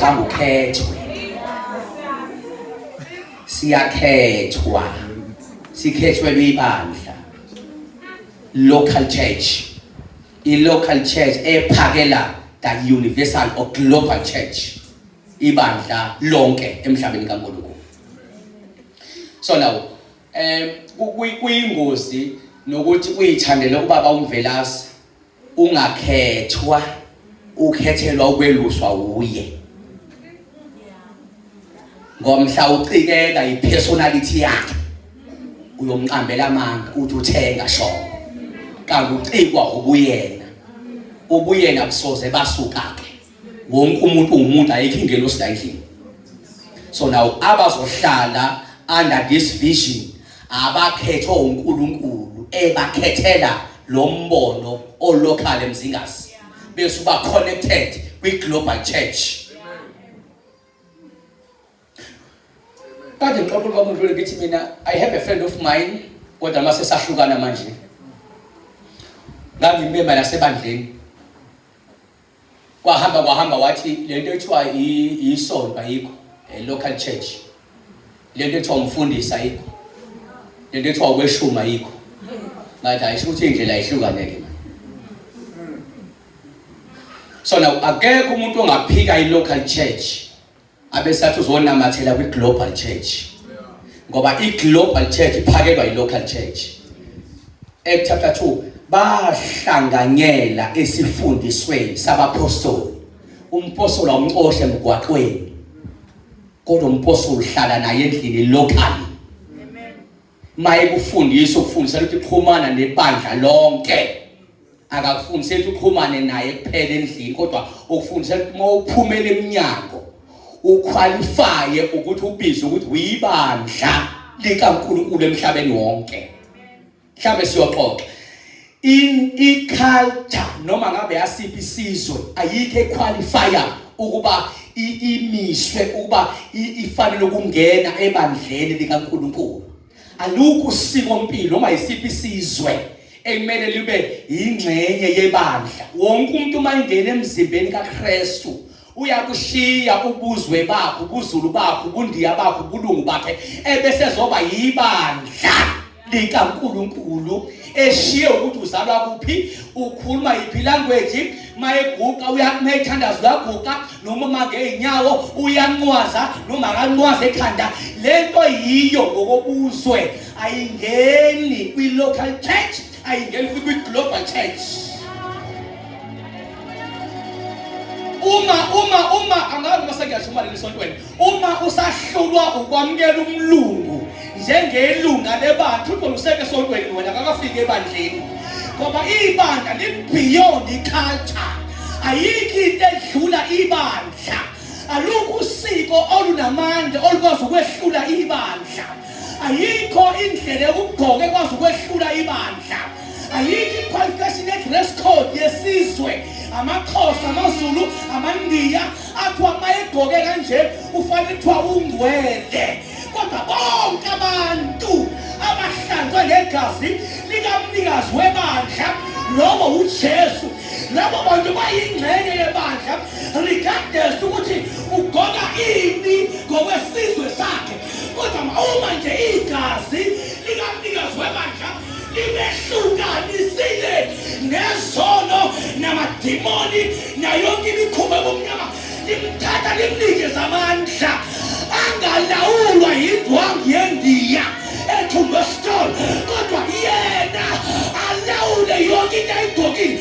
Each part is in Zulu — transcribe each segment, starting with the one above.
Thangu khethwe. Siyakhethwa. Sikhethwe libandla. Local church. I local church ephakela ka universal or global church. Ibandla lonke emhlabeni kaNkulunkulu. So now eh kuyingozi nokuthi uyithandele ubaba uMvelase Ungakhethwa, ukhethelwa ukweluswa wuye. Ngomhla ucikeka ipersonality yakhe. Uyomqambela amanga uthi uthenga shongo. Kanti ucikwa ubuyena. Ubuyena kusoze basuka ke. wonke umuntu uwumuntu ayikho ingelosi la endlini so now abazohlala under this vision abakhethwa uNkulunkulu ebakhethela lo mbono olokhale mzingazi bese uba connected kwi global church kade ngixoxa ubaba udlule ngithi mina i have a friend of mine kodwa mase sahlukana manje ngangimema nasebandleni Kwahamba kwahamba wathi lento ethiwa isonto ayikho, eh, local church. Lento ethiwa umfundisi ayikho. Lento ethiwa ukweshuma ayikho. Ngathi ayisho ukuthi indlela ihlukaneke. So now akekho umuntu ongaphika i local church. abesathi uzonamathela kwi-global church ngoba i-global church iphakelwa yi-local church act chapter 2 bahlanganyela esifundisweni sabaphostoli umpostoli awumcoshe emgwaqweni kodwa umpostoli uhlala naye endlini locally mayekufundisa ukufundisa ukuthi xhumana nebandla lonke akakufundise ukuthi uxhumane naye kuphela endlini kodwa ukufundisa ukuthi uma uphumela eminyango ukhwalifaye ukuthi ubizwe ukuthi uyibandla likaNkulunkulu emhlabeni wonke mhlawumbe siyoxoxa in iculture noma ngabe yasiphi isizwe ayikho equalifier ukuba imiswe ukuba ifanele ukungena ebandleni likaNkuluNkulu alukho usiko mpilo noma yisiphi isizwe ekumele libe yingxenye yebandla wonke umuntu uma ingena emzimbeni kaKristu uyakushiya ubuzwe bakho ubuzulu bakho ubundiya bakho ubulungu bakhe ebese zoba yibandla likaNkuluNkulu eshiye ukuthi uzalwa kuphi ukhuluma yiphi language mayeguqa uyakumayithandaza uyaguqa noma mangeyinyawo uyanqwaza noma akanqwaza ekhanda lento yiyo ngokobuzwe ayingeni kwi-local church ayingeni futhi kwi-global church uma uma uma angazi uma sengiyasho uma leli sontweni uma usahlulwa ukwamukela umlungu njengelunga lebandla uqola useke sontweni wena kakafiki ebandleni ngoba ibandla li-beyond i-culture ayikho into edlula ibandla alukho usiko olunamandla olukwazi ukwehlula ibandla ayikho indlela yokugqoka ekwazi ukwehlula ibandla ayikho iqualification ye-dress code yesizwe amaxhosa amazulu amandiya athiwa uma egqoke kanje ufanele kuthiwa ungcwele kodwa bonke abantu abahlanzwe ngegazi likamnikazi webandla lowo ujesu labo bantu bayingxenye yebandla regardless ukuthi ugona ini ngokwesizwe sakhe kodwa uma nje igazi likamnikazi webandla limehlukanisile nezono namadimoni nayonke imikhuba ebumnyama limthatha limnikeza amandla angalawulwa yindwangu yendiya ethumbe stone kodwa yena alawule yonke into ayigqokile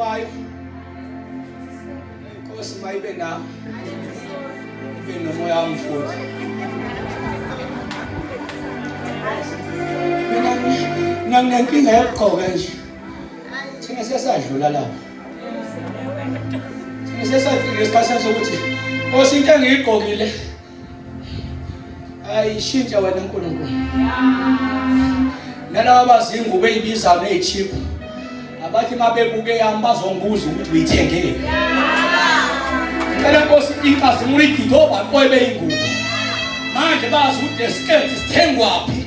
kwayo inkosi mayibe nawe ibe nomoya wamfuthi mina nginenkinga yokugqoka nje Thina sesadlula lapho. Thina sesafika esikhathini sokuthi Nkosi into engiyigqokile ayishintsha wena uNkulunkulu. Nalabo abazingubo ezibizayo ezichip abathi mabebuke yami bazongibuza ukuthi uyithengeni. Ngicela Nkosi inkazi ngiyigidobha kobe ingubo. Manje bazi ukuthi lesiketi sithengwaphi